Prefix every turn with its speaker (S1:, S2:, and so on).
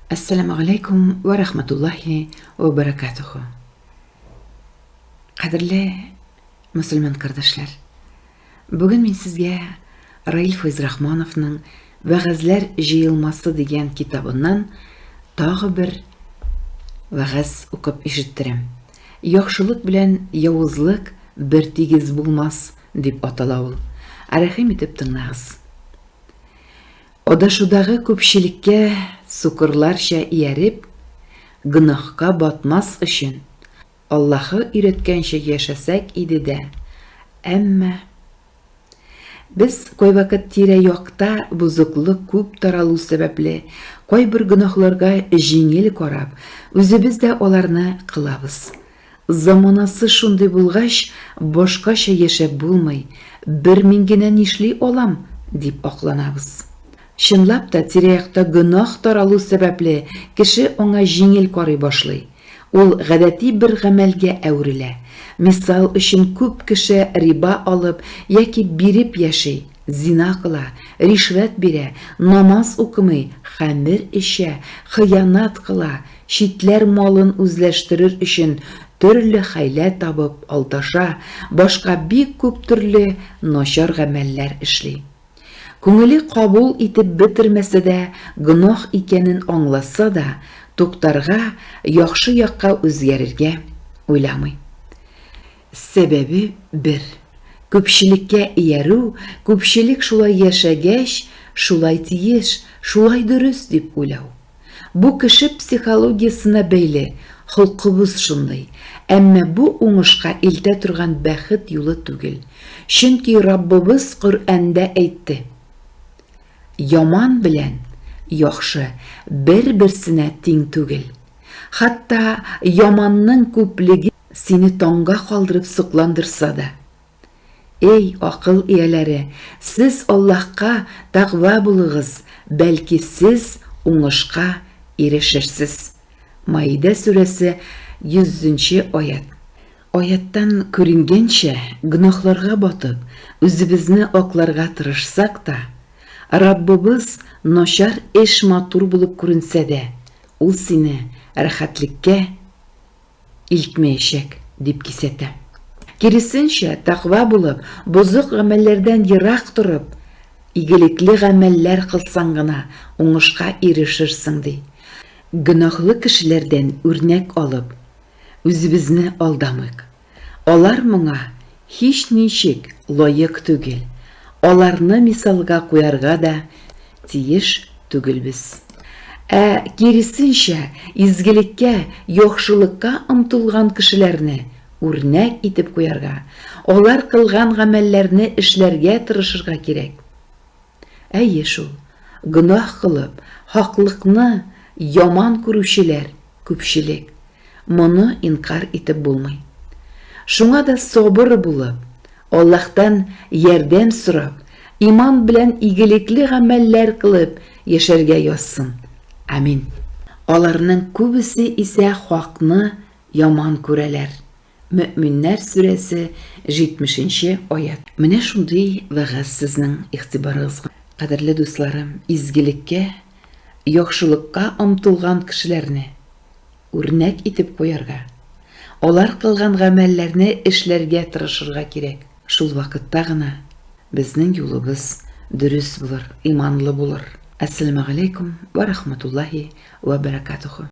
S1: Ассаламу галәйкум вә рахматуллахи вә баракатуху. Кадерле мусульман кардәшләр, бүген мин сезгә Раил Файз Рахмановның Вәгазьләр җыелмасы дигән китабыннан тагы бер вәгазь укып ишеттерәм. Яхшылык белән явызлык бер тигез булмас дип атала ул. Рәхим итеп тыңлагыз. Адашудагы күпчелеккә сукырларча ияреп, гөнаһка батмас өчен, Аллаһы өйрәткәнчә яшәсәк иде дә, әмма. Без кайвакыт тирә-якта бозыклык күп таралу сәбәпле, кайбер гөнаһларга җиңел карап, үзебез дә аларны кылабыз. Заманасы шундый булгач, башкача яшәп булмый, бер мин генә нишли алам, дип акланабыз. Чынлап та, тирә-якта гөнаһ таралу сәбәпле, кеше аңа җиңел карый башлый. Ул гадәти бер гамәлгә әверелә. Мисал өчен, күп кеше риба алып яки биреп яши, зина кыла, ришвәт бирә, намаз укымый, хәмер эчә, хыянәт кыла, Читләр малын үзләштерер өчен төрле хәйлә табып алдаша, башка бик күп төрле начар гамәлләр эшли. Күңеле кабул итеп бетермәсә дә, гөнаһ икәнен аңласа да, туктарга, яхшы якка үзгәрергә уйламый. Сәбәбе бер, күпчелеккә иярү, күпчелек шулай яшәгәч, шулай тиеш, шулай дөрес дип уйлау. Бу кеше психологиясенә бәйле, холкыбыз шундый. Әмма бу уңышка илтә торган бәхет юлы түгел. Чөнки Раббыбыз Коръәндә әйтте, Яман белән яхшы бер-берсенә тиң түгел. Хатта яманның күплеге Сине таңга калдырып сокландырса да. Эй, акыл ияләре, сез Аллаһка тәкъва булыгыз, бәлки сез уңышка ирешерсез. Маидә сүрәсе 100 нче аять. Аяттан күренгәнчә, гөнаһларга батып, үзебезне акларга тырышсак та, Раббыбыз, начар эш матур булып күренсә дә, ул сине рәхәтлеккә илтмәячәк, дип кисәтә. Киресенчә, тәкъва булып, бозык гамәлләрдән ерак торып, игелекле гамәлләр кылсаң гына уңышка ирешерсең, ди. Гөнаһлы кешеләрдән үрнәк алып, үзебезне алдамыйк. Алар моңа Һичничек лаек түгел. Аларны мисалга куярга да тиеш түгелбез. Ә киресенчә, изгелеккә, яхшылыкка омтылган кешеләрне үрнәк итеп куярга, алар кылган гамәлләрне эшләргә тырышырга кирәк. Әйе шул, гөнаһ кылып, хаклыкны яман күрүчеләр күпчелек, моны инкарь итеп булмый. Шуңа да сабыр булып, Аллаһтан ярдәм сорап, иман белән игелекле гамәлләр кылып яшәргә язсын. Амин. Аларның күбесе исә хакны яман күрәләр. Мөэминнәр сүрәсе 70 нче аять. Менә шундый вәгазь сезнең игътибарыгызга. Кадерле дусларым, изгелеккә, яхшылыкка омтылган кешеләрне үрнәк итеп куярга, алар кылган гамәлләрне эшләргә тырышырга кирәк. Шул вакытта гына безнең юлыбыз дөрес булыр, иманлы булыр. Әссәламегаләйкүм вә рахматуллаһи вә бәрәкатүһү.